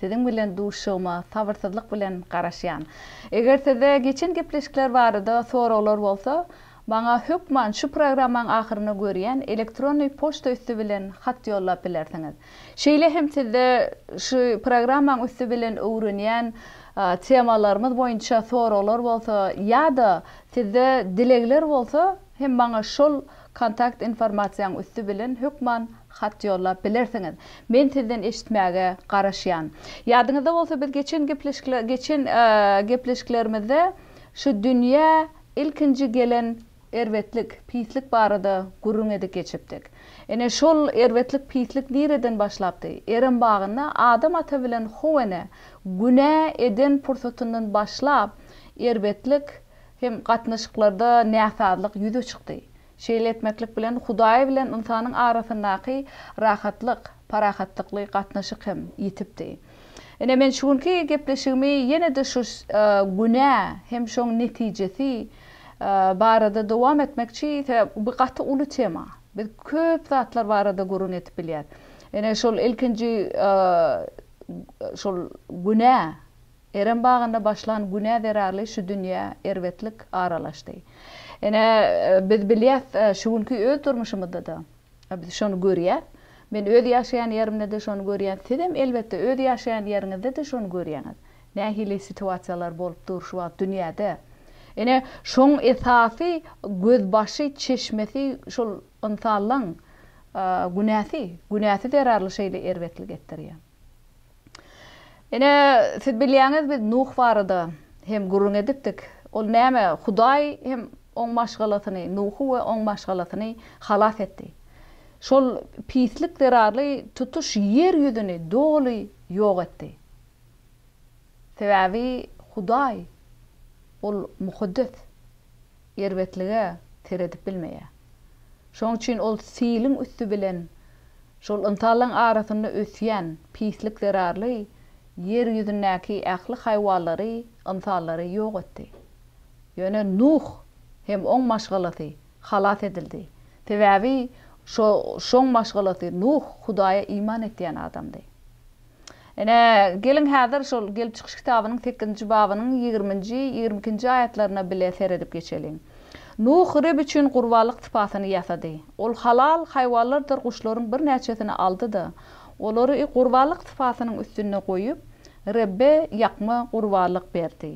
Siziň bilen duşuşygyma sabyrsyzlyk bilen garaşýan. Eger sizde geçen gepleşikler barada soraglar bolsa, maňa hökman şu programmaň ahyrynda görýän elektronny poçta üsti bilen hat ýollap bilersiňiz. Şeýle hem sizde şu programmaň üsti bilen öwrenýän temalarymyz boýunça soraglar bolsa ýa-da sizde dilegler bolsa, Hem maňa şol kontakt informasiýaň üsti bilen hökman hat ýollap bilersiňiz. Men sizden eşitmäge garaşýan. Ýadyňyzda bolsa biz geçen gepleşikle geçen gepleşiklerimizde şu dünýä ilkinji gelen erbetlik, pislik barada gürrüň edip geçipdik. Ine şol erbetlik, pislik nireden başlapdy? Erem bagynda Adam ata bilen Howene günä eden pursatyndan başlap erbetlik, Hem gatnaşyklarda näsazlyk ýüze çykdy. Şeýle etmeklik bilen Hudaý bilen ynsanyň arasyndaky rahatlyk, parahatlykly gatnaşyk hem ýitipdi. Ine, men şu günki gepleşigimi ýene-de şu günä hem şoň netijesi barada dowam etmekçi, sebäbi bu gaty uly tema. Biz köp zatlar barada gürrüň edip bilýäs. Ine, şol ilkinji şol günä Erem bagynda başlan günä zerarly şu dünýä erbetlik aralaşdy. Ine, biz bilýäs, şu günki öz durmuşymyzda-da biz şony görýäs. Men öz ýaşaýan ýerimde-de şony görýän, sizem elbetde öz ýaşaýan ýeriňizde-de şony görýäňiz. Nähili situasiýalar bolup dur şu wagt dünýäde. Ine, şoň esasy gözbaşy, çeşmesi şol ynsanlaň günäsi. Günäsi zerarly şeýle erbetlik etdirýär. Ine, siz bilýäňiz, biz Nuh barada hem gürrüň edipdik. Ol näme, Hudaý hem oň maşgalasyny, Nuhy we oň maşgalasyny halas etdi. Şol pislik zerarly tutuş ýer ýüzüni doly ýok etdi. Sebäbi Hudaý, Ol mukaddes. erbetlige seredip bilmeýär. Şonuň üçin ol siliň üsti bilen şol ynsanlaryň arasynda ösýän pislik zerarly ýer ýüzündäki ähli haýwanlary, ynsanlary ýok etdi. Ýöne Nuh hem oň maşgalasy halas edildi. Sebäbi şo şoň maşgalasy Nuh Hudaýa iman etýän adamdy. Ine, geliň häzir şol Gelip çykyş kitabynyň sekizinji babynyň ýigriminji, ýigrimi ikinji aýatlaryna bile seredip geçeliň. Nuh Reb üçin gurbanlyk sypasyny ýasady. Ol halal haýwanlardyr guşlaryň birnäçesini aldy-da, olary gurbanlyk sypasynyň üstünde goýup, Rebbe ýakma gurbanlyk berdi.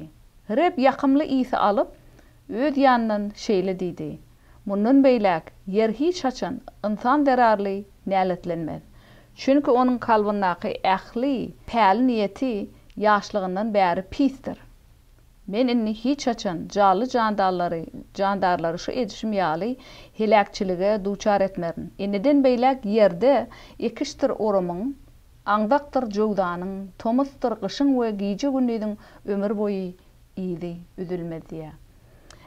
Reb ýakymly ysy alyp, Öz ýanyndan şeýle diýdi, Mundan beýläk ýer hiç haçan ynsan zerarly näletlenmez. Çünki onuň kalbyndaky ähli päli niýeti ýaşlygyndan bäri pisdir. Men indi hiç haçan jally jandallary, jandarlary şu edişim ýaly heläkçilige duçar etmerin. Indiden beýläk ýerde ekişdir orumyň, aňzakdyr jöwzanyň, tomusdyr gyşyň we gije-gündiziň ömür boýy yzy üzülmez diýýär.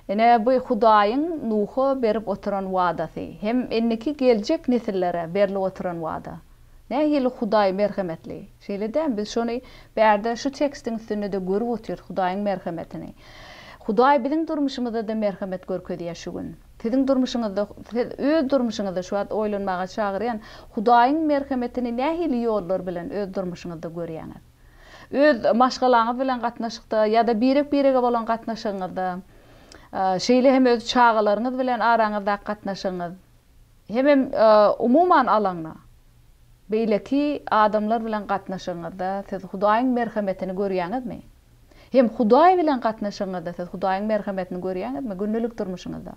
Ine, bu Hudaýyň Nuha berip oturan wadasy, hem indiki geljek nesillere berlip oturan wada. Nähili Hudaý merhemetli, şeýle dämi? Biz şony bärde şu tekstiň üstünde-de görüp otyrys, Hudaýyň merhemetini. Hudaý biziň durmuşymyzda-da merhemet görkezýär şu gün. Siziň durmuşyňyzda, siz öz durmuşyňyzda şu wagt oýlanmaga çagyrýan Hudaýyň merhemetini nähili ýollar bilen öz durmuşyňyzda görýäňiz? Öz maşgalaňyz bilen gatnaşykda ýa-da birek-birege bolan gatnaşygyňyzda, şeýle hem öz çagalaryňyz bilen araňyzdaky gatnaşygyňyz, hemem umuman alanda, beýleki adamlar bilen gatnaşygyňyzda siz Hudaýyň merhemetini görýäňizmi? Hem Hudaý bilen gatnaşygyňyzda siz Hudaýyň merhemetini görýäňizmi gündelik durmuşyňyzda?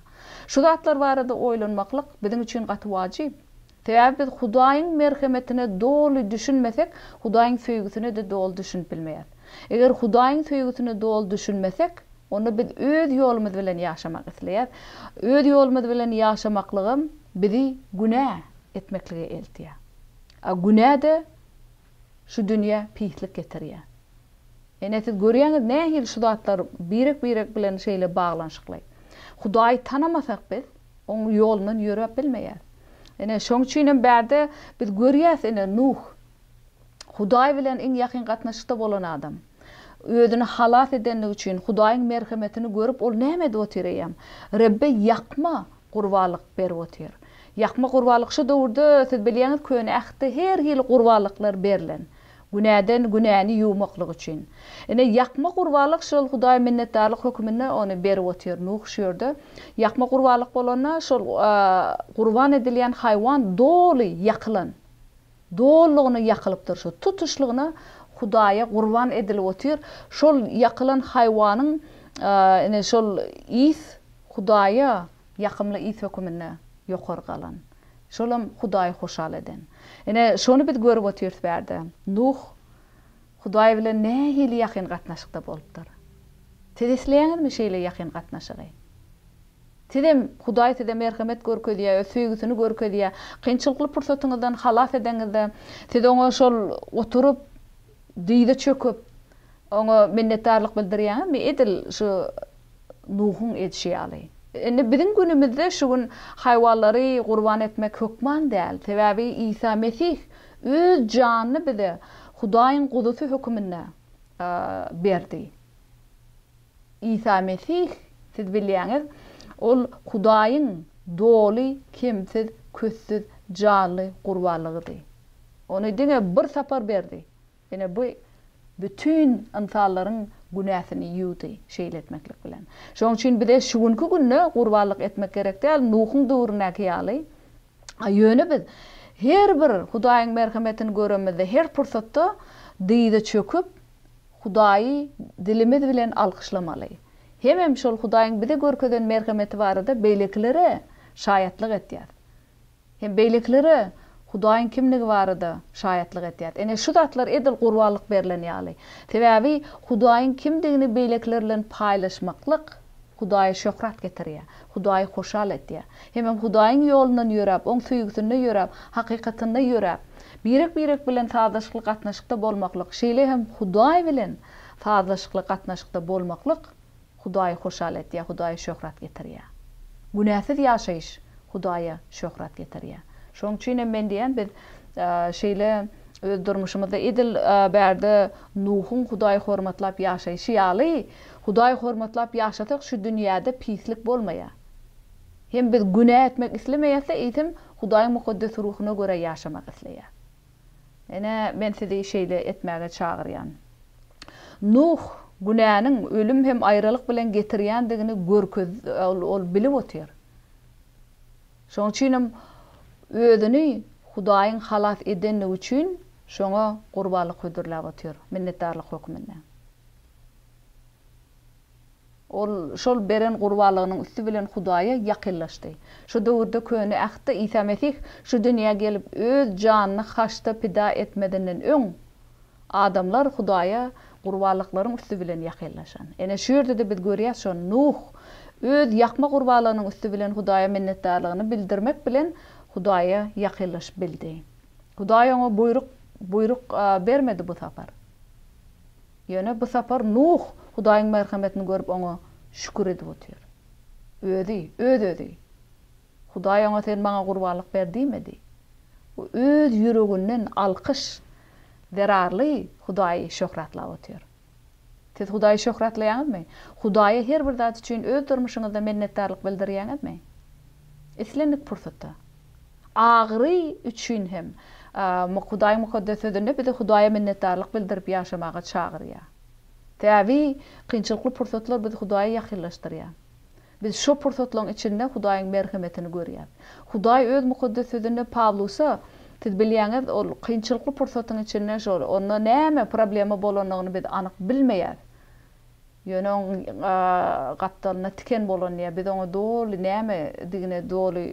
Şu zatlar barada oýlanmaklyk biziň üçin gaty wajyp. Sebäbi biz Hudaýyň merhemetine doly düşünmesek, Hudaýyň söýgüsine-de doly düşünip bilmeýäris. Eger Hudaýyň söýgüsine doly düşünmesek, onda biz öz ýolumyz bilen ýaşamak isleýäris. Öz ýolumyz bilen ýaşamaklygam bizi günä etmeklige eltýär. A günä-de Şu dünýä pislik getirýär. Ine siz görýäňiz nähili şu zatlar birek birek bilen şeýle baglanyşykly. Hudaýy tanamasak biz oň ýolundan ýöräp bilmeýäs. Ine şoň üçinem bärde biz görýäs ine Nuh Hudaý bilen iň ýakyn gatnaşykda bolan adam. Özüni halas edenligi üçin Hudaýyň merhemetini görüp ol näme edip otyr eýýäm. Rebbe ýakma Gurbalyk berip otyr. Ýakma gurbalyk şu döwürde siz bilýäňiz köne ähtde her hili gurbalyklar berlen. Günäden günäni ýuwmaklyk üçin. Ine ýakma gurbalyk şol Hudaýa minnetdarlyk höküminde ony berip otyr. Nuh şu ýerde ýakma gurbalyk bolanda şol gurban edilýän haýwan doly ýakylan. Dolugyna ýakylypdyr şu. Tutuşlygyna Hudaýa gurban edilip otyr. Şol ýakylan haýwanyň ine şol ys Hudaýa ýakymly ys höküminde ýokary galan. Şolam Hudaýy hoşal eden. Ine şony biz görüp otyrys bärde. Nuh Hudaý bilen nähili ýakyn gatnaşykda bolupdyr. Siz isleýäňizmi şeýle ýakyn gatnaşygy? Sizem, Hudaý size merhemet görkezýär, öz söýgüsini görkezýär. Kynçylykly pursatyňyzdan halas edenizde, siz Oňa şol oturyp, dyza çöküp, Oňa minnetdarlyk bildirýäňizmi, edil şu Nuhuň edişi ýaly? Indi biziň günümizde şu gün haýwanlary gurban etmek hökman däl. Sebäbi Isa Mesih Öz janyny bize Hudaýyň Guzusy höküminde berdi. Isa Mesih, siz bilýäňiz, Ol Hudaýyň doly, kemsiz, köstsüz, janly gurbanlygydy. Ony diňe bir sapar berdi. Ine, bu bütin ynsanlaryň günäsini ýuwdy, şeýle etmeklik bilen. Şonuň üçin bize şu günki günde gurbanlyk etmek gerek däl, Nuhuň döwründäki ýaly. A ýöne biz her bir Hudaýyň merhemetini göremizde, her pursatda dyza çöküp, Hudaýy dilimiz bilen alkyşlamaly. Hemem şol Hudaýyň bize görkezen merhemeti barada beýlekilere şaýatlyk etýäs. Hem beýlekilere Hudaýyň kimdigi barada şaýatlyk etýäs. Ine, şu zatlar edil gurbanlyk berlen ýaly. Sebäbi Hudaýyň kimdigini beýlekiler bilen paýlaşmaklyk Hudaýa şöhrat getirýär. Hudaýy hoşal edýär. Hemem Hudaýyň ýolundan ýöräp, Oň söýgüsinde ýöräp, hakykatynda ýöräp, birek-birek bilen sazlaşykly gatnaşykda bolmaklyk, şeýle hem Hudaý bilen sazlaşykly gatnaşykda bolmaklyk Hudaýy hoşal edýär, Hudaýa şöhrat getirýär. Günäsiz ýaşaýyş Hudaýa şöhrat getirýär. Şonuň üçin hem men diýýän, biz şeýle öz durmuşymyzda edil bärde Nuhuň Hudaýy hormatlap ýaşaýşy ýaly, Hudaýy hormatlap ýaşasak şu dünýäde pislik bolmaýa. Hem biz günä etmek islemeýäsde eýsem Hudaýyň mukaddes ruhuna görä ýaşamak isleýä. Ine men sizi şeýle etmäge çagyrýan. Nuh günäniň ölüm hem aýralyk bilen getirýändigini görkez ol bilip otyr. Şoň üçinem özüni Hudaýyň halas edendigi üçin şoňa gurbanlyk hödürläp otyr minnetdarlyk hökmünde. Ol şol beren gurbanlygynyň üsti bilen Hudaýa ýakynlaşdy. Şu döwürde Köne Ähtde Isa Mesih şu dünýä gelip öz janyny haçda pida etmezinden öň, adamlar Hudaýa gurbanlyklaryň üsti bilen ýakynlaşan. Ene şu ýerde-de biz görýäs şony, Nuh öz ýakma gurbanlygynyň üsti bilen Hudaýa minnetdarlygyny bildirmek bilen Hudaýa ýakynlaşyp bildi. Hudaý oňa buýruk buýruk bermedi bu sapar. Ýöne bu sapar Nuh Hudaýyň merhemetini görüp oňa şükür edip otyr. Özi, öz-özi. Hudaý oňa sen maňa gurbanlyk ber diýmedi. O öz ýüreginden alkyş zerarly Hudaýy şöhratlap otyr. Siz Hudaýy şöhratlaýaňyzmy? Hudaýa her bir zat üçin öz durmuşyňyzda minnetdarlyk bildirýäňizmi? Islendik pursatda. Agyry üçin hem Hudaýyň mukaddes sözünde bizi Hudaýa minnetdarlyk bildirip ýaşamaga çagyrýar. Täbi, kynçylykly pursatlar bizi Hudaýa ýakynlaşdyrýar. Biz şo pursatlaryň içinde Hudaýyň merhemetini görýäris. Hudaý Öz mukaddes sözünde Pawlusa, Siz bilýäňiz, ol kynçylykly pursatyň içinde şol, onda näme problema bolanyny biz anyk bilmeýäris. Ýöne oň gapdalynda tiken bolan ýa biz oňa doly näme digine doly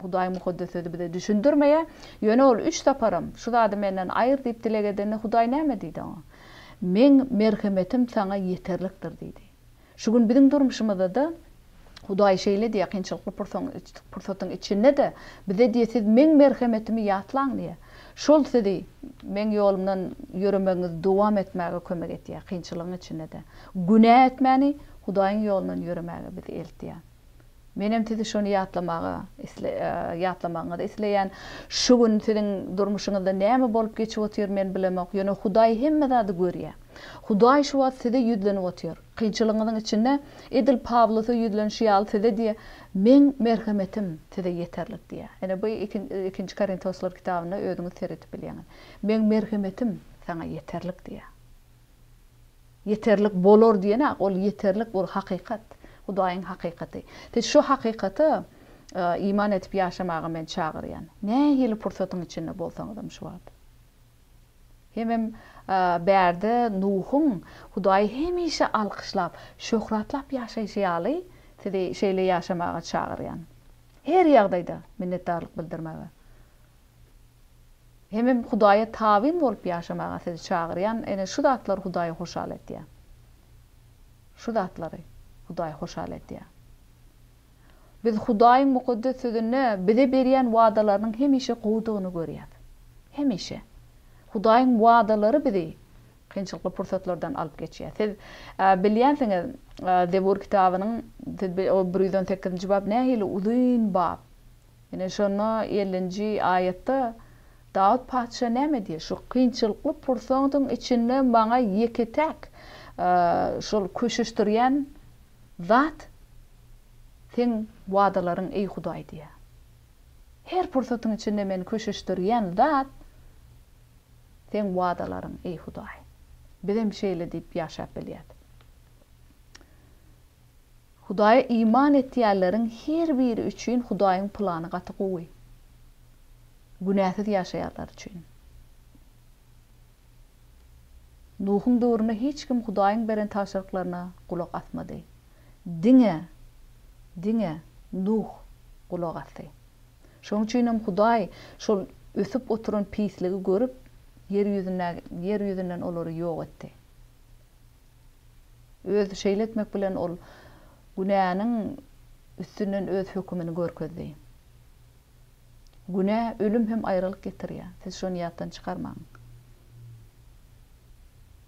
Hudaýyň Mukaddes Sözi bize düşündirmeýä. Ýöne ol üç saparam şu zady menden aýyr diýip dileg edende Hudaý näme diýdi oňa? Meň merhemetim saňa ýeterlikdir diýdi. Şu gün biziň durmuşymyzda-da Hudaý şeýle diýýär, Kynçylykly pursatyň içinde-de Bize diýýär, Siz Meň merhemetimi ýatlaň diýýär. Şol sizi Meň ýolumdan ýöremegiňizi dowam etmäge kömek etýär. Kynçylygyň içinde-de günä etmäni, Hudaýyň ýolundan ýöremäge bizi eltýär. Menem sizi şony ýatlamaga, ýatlamagyňyzy isleýän. Şu gün siziň durmuşyňyzda näme bolup geçip otyr, men bilemok. Ýöne Hudaý hemme zady görýär. Hudaý şu wagt size ýüzlenip otyr. Kynçylygyňyzyň içinde edil Pawlusa ýüzlenişi ýaly size diýýär, Meň merhemetim size ýeterlik diýýär. Ine bu Ikinji Korintoslar kitabynda özüňiz seredip bilýäňiz. Meň merhemetim saňa ýeterlik diýýär. Ýeterlik bolar diýeni ol ýeterlik bul hakykat. Hudaýyň hakykaty. Siz şu hakykata iman edip ýaşamaga men çagyrýan. Nähili pursatyň içinde bolsaňyzam şu wagt. Hemem bärde Nuhuň Hudaýy hemişe alkyşlap, şöhratlap ýaşaýşy ýaly, sizi şeýle ýaşamaga çagyrýan. Her ýagdaýda minnetdarlyk bildirmäge. Hemem Hudaýa tabyn bolup ýaşamaga sizi çagyrýan. Ene, şu zatlar Hudaýy hoşal edýär. Şu zatlary Hudaý hoşal edýär. Biz Hudaýyň Mukaddes Sözünde bize berýän wadalarynyň hemişe gowudygyny görýäris. Hemişe. Hudaýyň wadalary bizi kynçylykly pursatlardan alyp geçýär. Siz bilýänsiňiz, Zebur kitabynyň bir ýüz on sekizinji bap nähili uzyn bap. Ine, şonda ellinji aýatda Dawut patyşa näme diýýär? Şu kynçylykly pursatyň içinde maňa ýeke-täk şol köşeşdirýän Zat Seň wadalaryň eý Hudaý diýýär. Her pursatyň içinde meni köşeşdirýän zat Seň wadalaryň eý Hudaý. Bizem şeýle diýip ýaşap bilýäs. Hudaýa iman etýänleriň her biri üçin Hudaýyň plany gaty gowy. Günäsiz ýaşaýarlar üçin. Nuhuň döwründe hiç kim Hudaýyň beren tabşyryklaryna gulak asmady. Diňe, diňe Nuh gulak asdy. Şonuň üçin hem Hudaý şol ösüp oturan pisligi görüp, ýer ýüzündäki, ýer ýüzünden olary ýok etdi. Öz şeýle etmek bilen ol günäniň üstünden öz hökümini görkezdi. Günä, ölüm hem aýralyk getirýär. Siz şony ýatdan çykarmaň.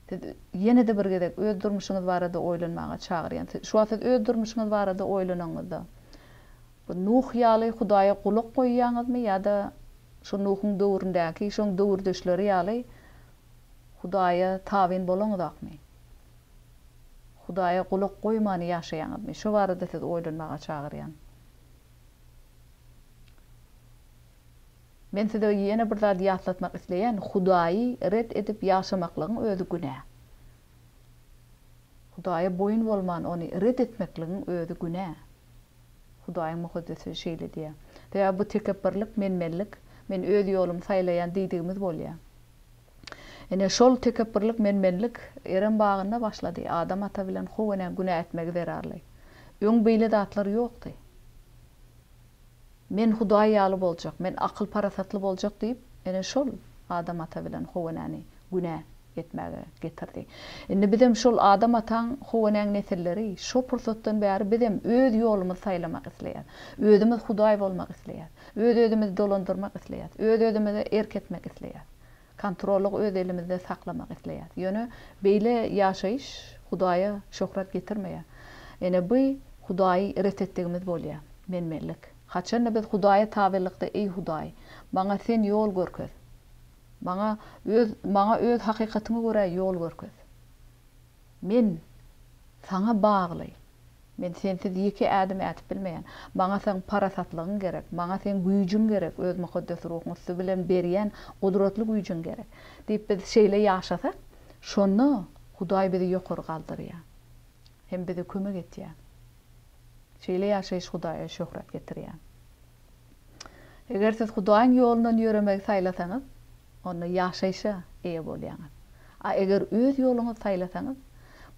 Siz ýene-de bir gezek öz durmuşyňyz barada oýlanmaga çagyrýan. Şu wagt siz öz durmuşyňyz barada oýlananyňyzda, bu Nuh ýaly Hudaýa gulak goýýaňyzmy ýa-da şu Nuhuň döwründäki, şoň döwürdeşleri ýaly Hudaýa tabyn bolaňyzakmy? Hudaýa gulak goýman ýaşaýaňyzmy? Şu barada siz oýlanmaga çagyrýan. Men size ýene bir zady ýatlatmak isleýän, Hudaýy ret edip ýaşamaklygyň özi günä. Hudaýa boýun bolman ony ret etmekligiň özi günä. Hudaýyň Mukaddesi şeýle diýýär. Sebäbi bu tekepbirlik, menmenlik, men öz ýolumy saýlaýan diýdigimiz bolýar. Ine, şol tekepbürlik, men-menlik Erem bagynda başlady. Adam ata bilen How enä günä etmegi zerarly. Öň beýle zatlar ýokdy. Men Hudaý ýaly boljak, men akyl-parasatly boljak diýip, ene, şol Adam ata bilen How enäni günä etmäge getirdi. Indi bizem şol Adam ataň, How enäň nesilleri, şo pursatdan bäri bizem öz ýolumyzy saýlamak isleýäs. Özümiz Hudaý bolmak isleýäs. Öz-özümizi dolandyrmak isleýäs. Öz-özümize erk etmek isleýäs. Kontrollygy öz elimizde saklamak isleýäs. Ýöne beýle ýaşaýyş Hudaýa şöhrat getirmeýär. Ene by Hudaýy ret etdigimiz bolýar. Menmenlik. Haçanda biz Hudaýa tabylykda Eý Hudaý, maňa Sen ýol görkez. Maňa öz maňa öz hakykatyňa görä ýol görkez. Men Saňa bagly. Men Sensiz ýeke ädim ädip bilmeýän. Maňa Seň parasatlygyň gerek. Maňa Seň güýjüň gerek, Öz Mukaddes Ruhuň üsti bilen berýän gudratly güýjüň gerek. Diýip biz şeýle ýaşasak, şonda Hudaý bizi ýokary galdyrýar hem bize kömek etýär. Şeýle ýaşaýyş Hudaýa şöhrat getirýär. Eger siz Hudaýyň ýolundan ýöremegi saýlasaňyz, onda ýaşaýşa eýe bolýaňyz. A eger öz ýoluňyzy saýlasaňyz,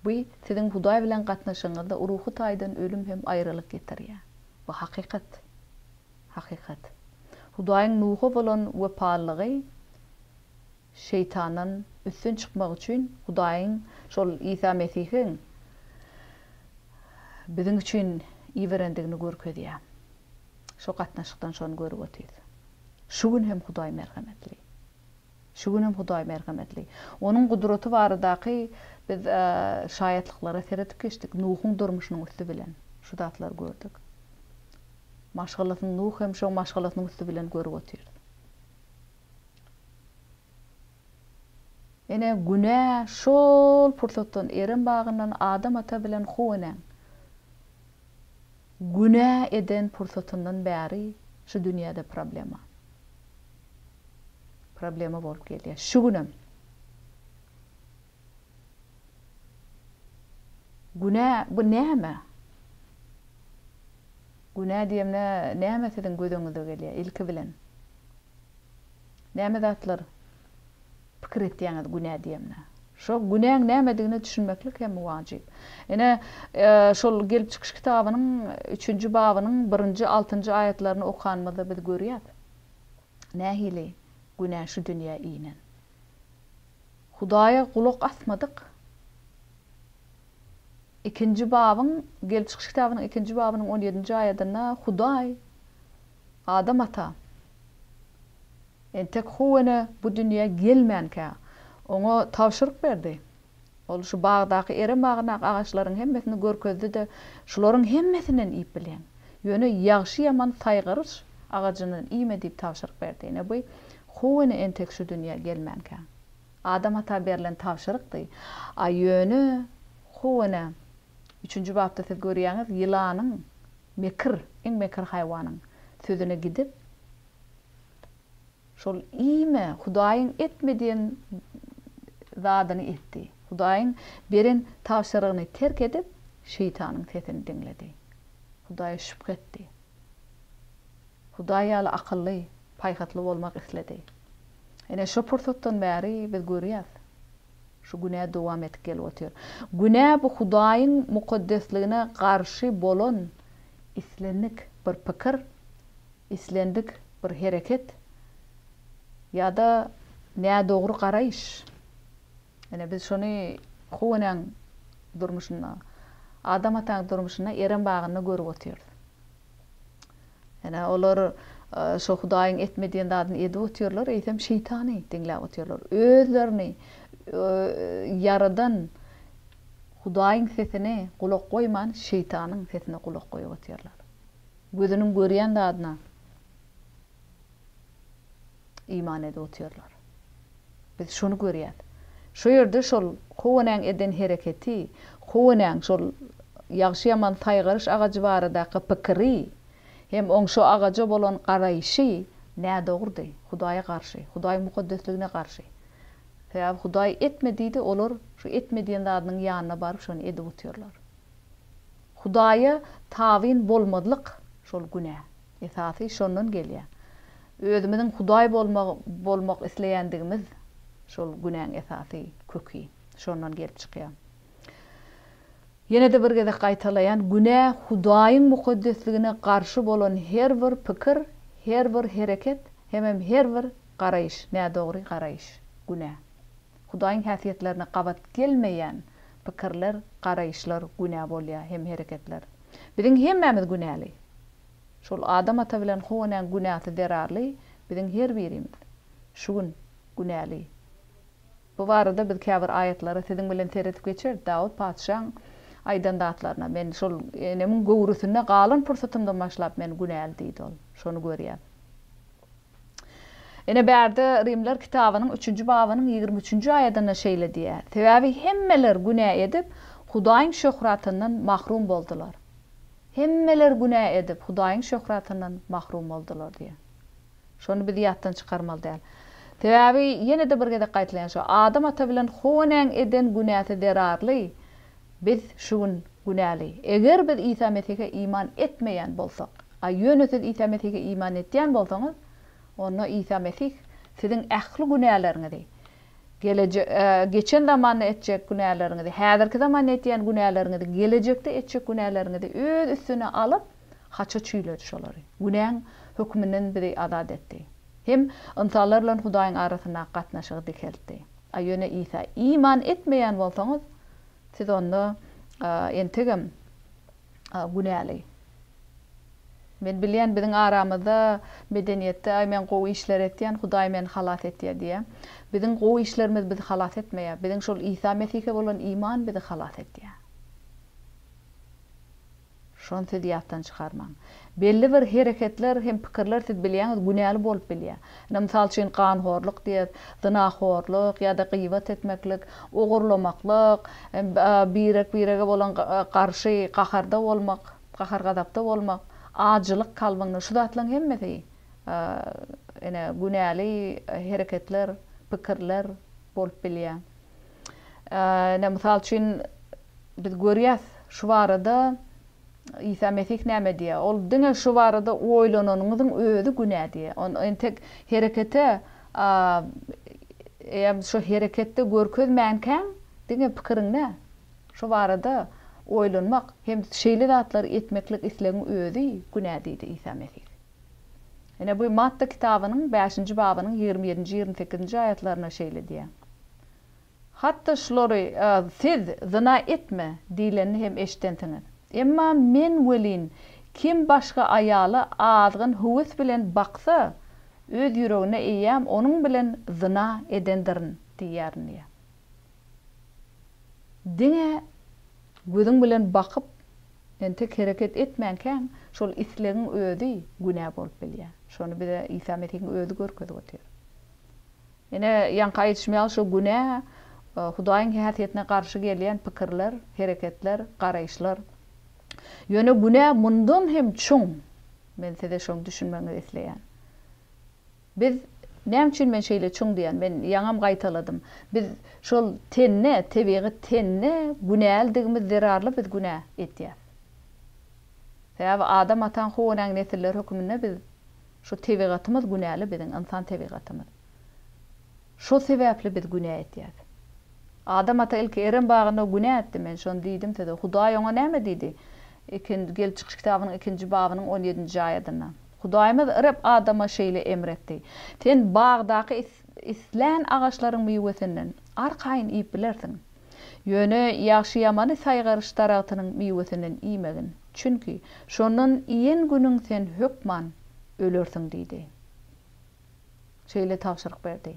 bu siziň Hudaý bilen gatnaşygyňyzda ruhy taýdan ölüm hem aýralyk getirýär. Bu hakykat. Hakykat. Hudaýyň Nuha bolan wepalylygy Şeýtandan üstün çykmak üçin Hudaýyň şol Isa Mesihiň biziň üçin iberendigini görkezýär. Şo gatnaşykdan şony görüp otyrys. Şu gün hem Hudaý merhemetli. Şu gün hem Hudaý merhemetli. Onuň gudraty baradaky biz şaýatlyklara seredip geçdik. Nuhuň durmuşynyň üsti bilen şu zatlary gördük. Maşgalasyny Nuh hem şoň maşgalasynyň üsti bilen görüp otyrys. Ine, günä şol pursatdan Erem bagyndan Adam ata bilen Huw enäň Günä eden pursatyndan bäri şu dünýäde problema. Problema bolup gelýär. Şu günem. Günä bu näme? Günä diýemde näme siziň gözüňize gelýär ilki bilen? Näme zatlar? Pikir etýäňiz günä diýemde. Şo günäň nämedigine düşünmeklik hem wajyp. Ine, şol Gelip çykyş kitabynyň üçünji babynyň birinji, altynjy aýatlaryny okanymyzda biz görýäs. Nähili günä şu dünýä inen. Hudaýa gulak asmadyk. Ikinji babyň, Gelip çykyş kitabynyň ikinji babynyň on ýedinji aýadynda Hudaý Adam ata, Entek Huwene bu dünýä gelmänkä, oňa tabşyryk berdi. Ol şu bagdaky erem-agynak agaçlaryň hemmesini görkezdi-de, Şularyň hemmesinden iýip bilýäň. Ýöne ýagşy-ýaman saýgaryç agajyndan iýme diýip tabşyryk berdi. Ine bu Huwene entek şu dünýä gelmänkä, Adam ata berlen tabşyrykdy. A ýöne Huwene üçünji bapda siz görýäňiz, ýylanyň, mekir, iň mekir haýwanyň sözüne gidip, Şol iýme, Hudaýyň etme diýen zadyny etdi. Hudaýyň beren tabşyrygyny terk edip, Şeýtanyň sesini diňledi. Hudaýa şübhe etdi. Hudaý ýaly akylly, paýhasly bolmak isledi. Ine, şo pursatdan bäri biz görýäs, şu günä dowam edip gelip otyr. Günä bu Hudaýyň mukaddesligine garşy bolan islendik bir pikir, Islendik bir hereket ýa-da nädogry garaýyş, ine, biz şony Huw enäň durmuşynda, Adam ataň durmuşynda, Erem bagynda görüp otyrys. Ine, olar şo Hudaýyň etme diýen zadyny edip otyrlar, eýsem şeýtany diňläp otyrlar. Özlerini Ýaradan Hudaýyň sesine gulak goýman, şeýtanyň sesine gulak goýup otyrlar. Gözüniň görýän zadyna iman edip otyrlar. Biz şony görýäs. Şu ýerde şol Howenäň eden hereketi, Howenäň şol ýagşy-ýaman saýgaryş agajy baradaky pikiri hem oň şo agaja bolan garaýşy nädogrudy, Hudaýa garşy, Hudaýyň mukaddesligine garşy. Sebäbi Hudaý etme diýdi, olar şu etme diýen zadynyň ýanyna baryp şony edip otyrlar. Hudaýa tabyn bolmazlyk şol günä. Esasy şondan gelýä. Özümiziň Hudaý bolmagy bolmak isleýändigimiz şol günäň esasy köki şondan gelip çykýa. Ýene-de bir gezek gaýtalaýan günä Hudaýyň mukaddesligine garşy bolan her bir pikir, her bir hereket hemem her bir garaýyş, nädogry garaýyş günä. Hudaýyň häsiýetlerine gabat gelmeýän pikirler, garaýyşlar günä bolýar hem hereketler. Biziň hemmämiz günäli. Şol Adam ata bilen Howa enäň günäsi zerarly biziň her birimiz şu gün günäli. Bu barada biz käbir aýatlara siziň bilen seredip geçeris. Dawut patyşaň aýdan zatlaryna, Men şol enemiň göwresinde galan pursatymdan başlap men günäli diýdi ol. Şony görýäs. Ine, bärde Rimler kitabynyň üçünji babynyň ýigrimi üçünji aýadynda şeýle diýýär, Sebäbi hemmeler günä edip, Hudaýyň şöhratyndan mahrum boldular. Hemmeler günä edip, Hudaýyň şöhratyndan mahrum boldular diýýär. Şony biz ýatdan çykarmaly däl. Sebäbi, ýene-de bir gezek gaýtalaýyn, şu Adam ata bilen Howanyň eden günäsi zerarly Biz şu gün günäli. Eger biz Isa Mesihe iman etmeýän bolsak, a ýöne siz Isa Mesihe iman etýän bolsaňyz, onda Isa Mesih siziň ähli günäleriňizi, geleje, geçen zamanda etjek günäleriňizi, häzirki zamanda etýän günäleriňizi, gelejekde etjek günäleriňizi öz üstüne alyp, haça çüýledi şolary. Günäň hökmünden bizi azat etdi. Hem ynsanlar bilen Hudaýyň arasyndaky gatnaşygy dikeltdi. A ýöne Isa, Iman etmeýän bolsaňyz, siz onda entegem günäli. Men bilýän, biziň aramyzda medeniýetde, Aý, men gowy işler etýän, Hudaý meni halas etýär diýýär. Biziň gowy işlerimiz bizi halas etmeýär. Biziň şol Isa Mesihe bolan iman bizi halas etýär. Şony siz ýatdan çykarmaň. Belli bir hereketler hem pikirler siz bilýäňiz günäli bolup bilýär. Ine mysal üçin ganhorlyk diýer, zynahorlyk ýa-da gyýbat etmeklik, ogurlamaklyk, birek-birege bolan garşy gaharda bolmak, gahar-gazapda bolmak, ajylyk kalbyňda şu zatlaryň hemmesi ine günäli hereketler, pikirler bolup bilýär. Ine, mysal üçin, biz görýäs, şu barada Isa Mesih näme diýýär? Ol diňe şu barada oýlananyňyzyň özi günä diýýär. Ony entek herekete, eýýäm şu hereketde görkezmänkäň, diňe pikiriňde şu barada oýlanmak hem şeýle zatlary etmeklik islegiň özi günä diýdi Isa Mesih. Ine, bu Matta kitabynyň bäşinji babynyň ýigrimi ýedinji, ýigrimi sekizinji aýatlarynda şeýle diýýär. Hatda şulary, Siz zyna etme! diýlenini hem eşidensiňiz. Emma Men welin, Kim başga aýaly azgyn höwes bilen baksa, öz ýüregine eýýäm onuň bilen zyna edendirin diýýärin diýýär. Diňe gözüň bilen bakyp, entek hereket etmänkäň, şol islegiň özi günä bolup bilýär. Şony bize Isa Mesihiň özi görkezip otyr. Ine, ýaňky aýdyşym ýaly, şo günä, Hudaýyň häsiýetine garşy gelýän pikirler, hereketler, garaýyşlar. Ýöne günä mundan hem çuň. Men size şony düşünmeginizi isleýän. Biz, näme üçin men şeýle çuň diýýän, men ýaňam gaýtaladym, biz şol tende, tebigy tende günälidigimiz zerarly biz günä etýäs. Sebäbi Adam ataň Huwanyň nesilleri höküminde biz şu tebigatymyz günäli biziň ynsan tebigatymyz. Şo sebäpli biz günä etýäs. Adam ata ilki Erem bagynda günä etdi, men şony diýdim size. Hudaý oňa näme diýdi? Ikin, Gelip çykyş kitabynyň ikinji babynyň on ýedinji aýadynda. Hudaýymyz Reb Adama şeýle emr etdi, Sen bagdaky islän agaçlaryň miwesinden arkaýyn iýip bilersiň. Ýöne ýagşy-ýamany saýgaryş daragtynyň miwesinden iýmegin, çünki şondan iýen günüň sen hökman ölersiň diýdi. Şeýle tabşyryk berdi.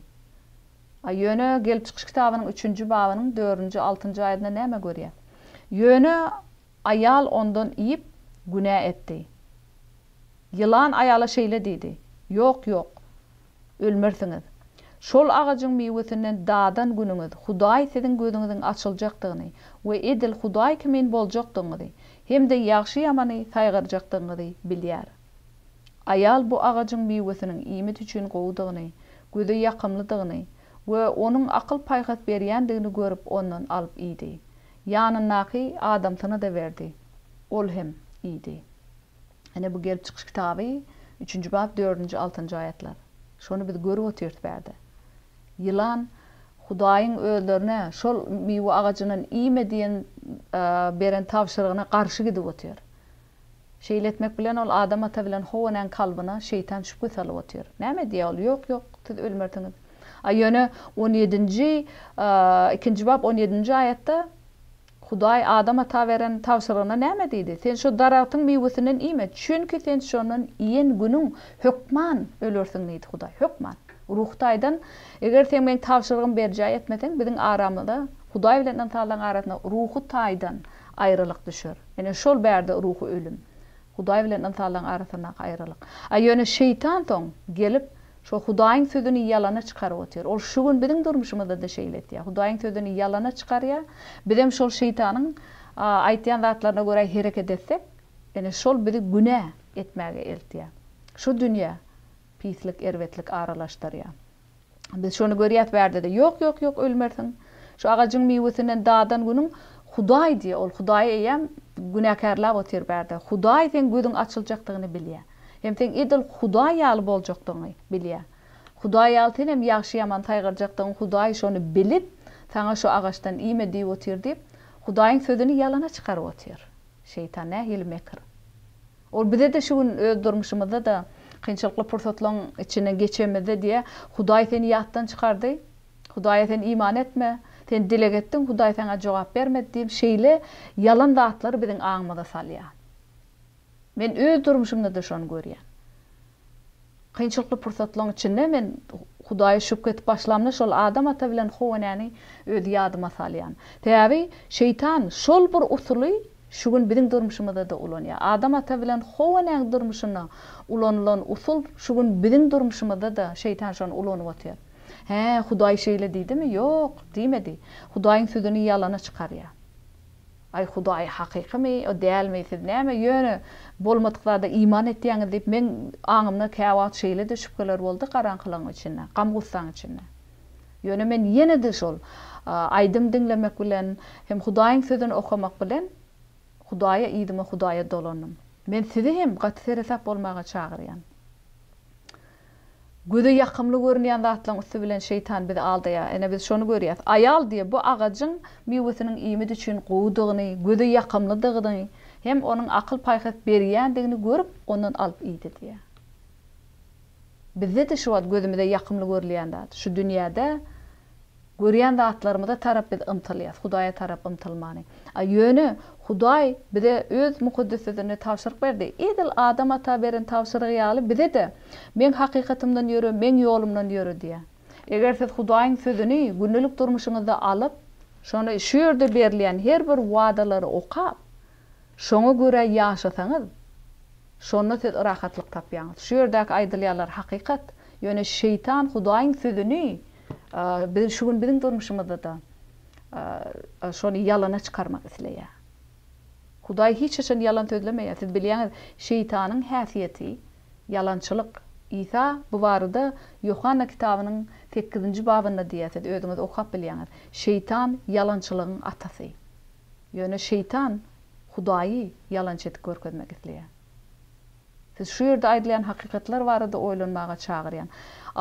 A Ýöne Gelip çykyş kitabynyň üçünji babynyň dördünji, altynjy aýatynda näme görýäs? Ýöne Aýal ondan iýip, günä etdi. Ýylan aýala şeýle diýdi, Ýok, ýok, ölmersiňiz. Şol agajyň miwesinden dadan günüňiz Hudaý siziň gözüňiziň açyljakdygyny we edil Hudaý kimin boljakdygyňyzy hem-de ýagşy-ýamany saýgarjakdygyňyzy bilýär. Aýal bu agajyň miwesiniň iýmit üçin gowudygyny, göze ýakymlydygyny we onuň akyl-paýhas berýändigini görüp ondan alyp iýdi. Ýanyndaky adamsyna-da berdi. Ol hem iýdi. Ine, bu Gelip çykyş kitaby, üçünji bap, dördünji, altynjy aýatlar. Şony biz görüp otyrys bärde. Ýylan Hudaýyň özlerine şol miwe agajyndan iýme diýen beren tabşyrygyna garşy gidip otyr. Şeýle etmek bilen ol Adam ata bilen Howa-nyň kalbyna şeýtan şübhe salyp otyr. Näme diýýär ol? Ýok, ýok, siz ölmersiňiz. A ýöne on ýedinji, ikinji bap on ýedinji aýatda Hudaý Adam ata beren tabşyrygyna näme diýdi? Sen şo daragtyň miwesinden iýme, çünki sen şondan iýen günüň hökman ölersiň diýdi Hudaý. Hökman. Ruhy taýdan eger sen meň tabşyrygymy berjaý etmeseň, biziň aramyza, Hudaý bilen ynsanlaryň arasynda ruhy taýdan aýralyk düşer. Ine, şol bärde ruhy ölüm. Hudaý bilen ynsanlaryň arasyndaky aýralyk. A ýöne şeýtan soň gelip, şo Hudaýyň sözüni ýalana çykaryp otyr. Ol şu gün biziň durmuşymyzda-da şeýle etýär. Hudaýyň sözüni ýalana çykarýar. Bizem şol şeýtanyň aýtýan zatlaryna görä hereket etsek, ine, şol bizi günä etmäge eltýär. Şu dünýä pislik, erbetlik aralaşdyrýar. Biz şony görýäs bärde-de. Ýok, ýok, ýok, ölmersiň. Şu agajyň miwesinden dadan günüň Hudaý diýýär, ol Hudaýy eýýäm günäkärläp otyr bärde. Hudaý seň gözüň açyljakdygyny bilýär. Hem seň edil Hudaý ýaly boljakdygyňy bilýär. Hudaý ýaly sen hem ýagşy-ýaman saýgarjakdygyň Hudaý şony bilip, saňa şu agaçdan iýme diýip otyr diýip, Hudaýyň sözüni ýalana çykaryp otyr. Şeýtan nähili mekir. Ol bize-de şu gün öz durmuşymyzda-da kynçylykly pursatlaryň içinden geçenimizde diýýär, Hudaý seni ýatdan çykardy, Hudaýa sen iman etme, sen dileg etdiň, Hudaý saňa jogap bermedi diýip, şeýle ýalan zatlary biziň aňymyza salýar. Men öz durmuşymda-da şony görýän. Kynçylykly pursatlaň içinde men Hudaýa şübhe etip başlamda şol Adam ata bilen How enäni özi ýadyma salýan. Sebäbi şeýtan şol bir usuly şu gün biziň durmuşymyzada ulanýar. Adam ata bilen How enäň durmuşynda ulanylan usul şu gün biziň durmuşymyzada şeýtan şony ulanyp otyr. Hä Hudaý şeýle diýdimi? Ýok, diýmedi. Hudaýyň sözüni ýalana çykarýar. Aý Hudaý hakykymy ýa dälmi siz näme ýöne bolmadyk zada iman etýäňiz diýip meň aňymda käwagt şeýlede şübheler boldy garaňkylygyň içinde gam-gussaň içinde ýöne men ýenede şol aýdym diňlemek bilen hem Hudaýyň sözüni okamak bilen Hudaýa yzyma Hudaýa dolandym men sizi hem gaty seresap bolmaga çagyrýan Göze ýakymly görünýän zatlaryň üsti bilen şeýtan bizi aldaýar. Ine biz şony görýäs. Aýal diýýär, bu agajyň miwesiniň iýmit üçin gowudygyny, göze ýakymlydygyny hem onuň akyl-paýhas berýändigini görüp, ondan alyp iýdi diýýär. Bizde-de şu wagt gözümize ýakymly görülýän zat, şu dünýäde Görýän zatlarymyza tarap biz ymtylýas, Hudaýa tarap ymtylmany. A ýöne Hudaý bize Öz mukaddes Sözünde tabşyryk berdi. Edil Adam ata beren tabşyrygy ýaly bize-de, Meň hakykatymdan ýöre, Meň ýolumdan ýöre diýýär. Eger siz Hudaýyň Sözüni gündelik durmuşyňyzda alyp, şony şu ýerde berilýän her bir wadalary okap, şoňa görä ýaşasaňyz, Şonda siz rahatlyk tapýaňyz. Şu ýerdäki aýdylýanlar hakykat. Ýöne şeýtan Hudaýyň sözüni biz şu gün biziň durmuşymyzda-da şony ýalana çykarmak isleýär. Hudaý hiç haçan ýalan sözlemeýär. Siz bilýäňiz, şeýtanyň häsiýeti, ýalançylyk. Isa bu barada Ýohanna kitabynyň sekizinji babynda diýýär, siz özüňiz okap bilýäňiz. Şeýtan ýalançylygyň atasy. Ýöne şeýtan Hudaýy ýalançy edip görkezmek isleýär. Sizi şu ýerde aýdylýan hakykatlar barada oýlanmaga çagyrýan.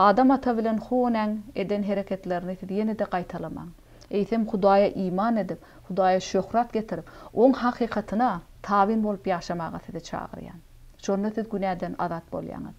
Adam ata bilen How näň eden hereketlerini siz ýene-de gaýtalamaň. Eýsem Hudaýa iman edip, Hudaýa şöhrat getirip, Oň hakykatyna tabyn bolup ýaşamaga sizi çagyrýan. Şonda siz günäden azat bolýaňyz.